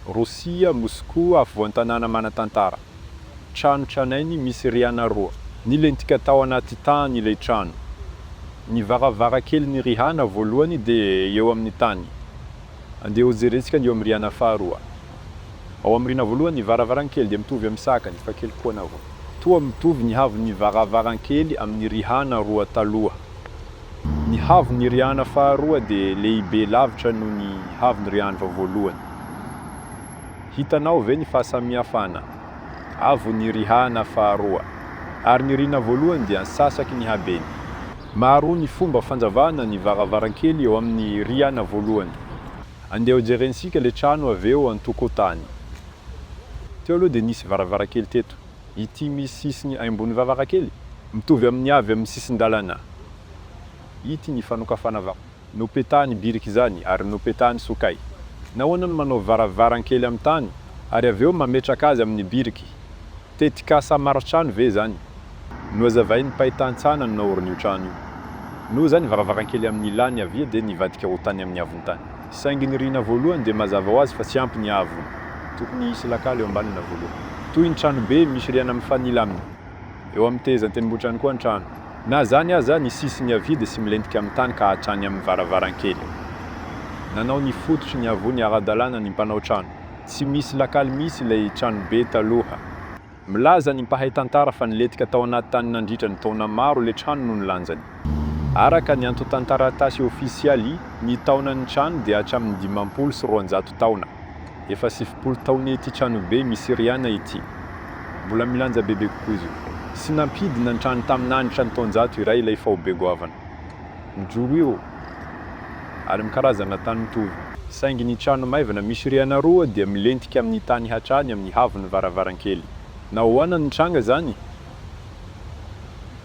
Rosia, Moscou, afovoan-tanàna manan-tantara. Trano tranainy misy rihana roa. Nilentika tao anaty tany ilay trano. Ny varavarankelin'ny rihana voalohany dia eo amin'ny tany. Andeha hojerentsika ny eo amin'ny rihana faharoa. Ao amin'ny rihana voalohany, ny varavarankely dia mitovy amin'ny sakany, fa kely kokoa na voa. Toa mitovy ny haavon'ny varavarankely amin'ny rihana roa taloha. Ny haavon'ny Riana faharoa dia lehibe lavitra noho ny haavon'ny Rianva voalohany. Hitanao ve ny fahasamihafana? Haavon'ny Riana faharoa, ary ny Riana voalohany dia antsasaky ny habeny. Maro ny fomba fanjavana ny varavarankely eo amin'ny Riana voalohany. Andeha ho jerentsika ilay trano avy eo an-tokotany. Teo aloha dia nisy varavarankely teto. ity misy sisiny aimbon'ny varavarankely mitovy amin'ny avy amin'ny sisin-dalana ity ny fanokafana vava. Nopetahany birika izany ary nopetahany sokay. Nahoana no manao varavarankely amin'ny tany ary avy eo mametraka azy amin'ny biriky? Tetikasa maritrano ve izany? Nohazavain'ny mpay tantsaha naorina io trano io. Noho izany, varavarankely amin'ny ilany havia dia nivadika ho tany amin'ny havon-tany. Saingy ny rihina voalohany dia mazava ho azy fa tsy ampy ny haavony. Tokony hisy lakala eo ambany na voalohany. Toy ny tranobe misy rihana mifanila aminy. Eo amin'ny tehezan'ny tendrombohitrany koa ny trano. Na izany aza, ny sisiny havia dia tsy milentika amin'ny tany ka hatrany amin'ny varavarankely. Nanao ny fototry ny haavony ara-dalàna ny mpanao trano. Tsy misy lakala mihitsy ilay tranobe taloha. Milaza ny mpahay tantara fa nilentika tao anaty tany nandritra ny taona maro ilay trano noho ny lanjany. Araka ny antontan-taratasy ofisialy, ny taonan'ny trano dia hatramin'ny dimampolo sy roanjato taona. Efa sivifolo taona ity tranobe misy rihana ity. Mbola milanja bebe kokoa izy io. Tsy nampidina ny trano tamin'ny hanitra ny taonjato iray ilay faobe goavana. Mijoro eo ary mikarazana tany mitovy. Saingy ny trano maivana misy rihana roa dia milentika amin'ny tany hatrany amin'ny haavon'ny varavarankely. Nahoana no nitranga izany?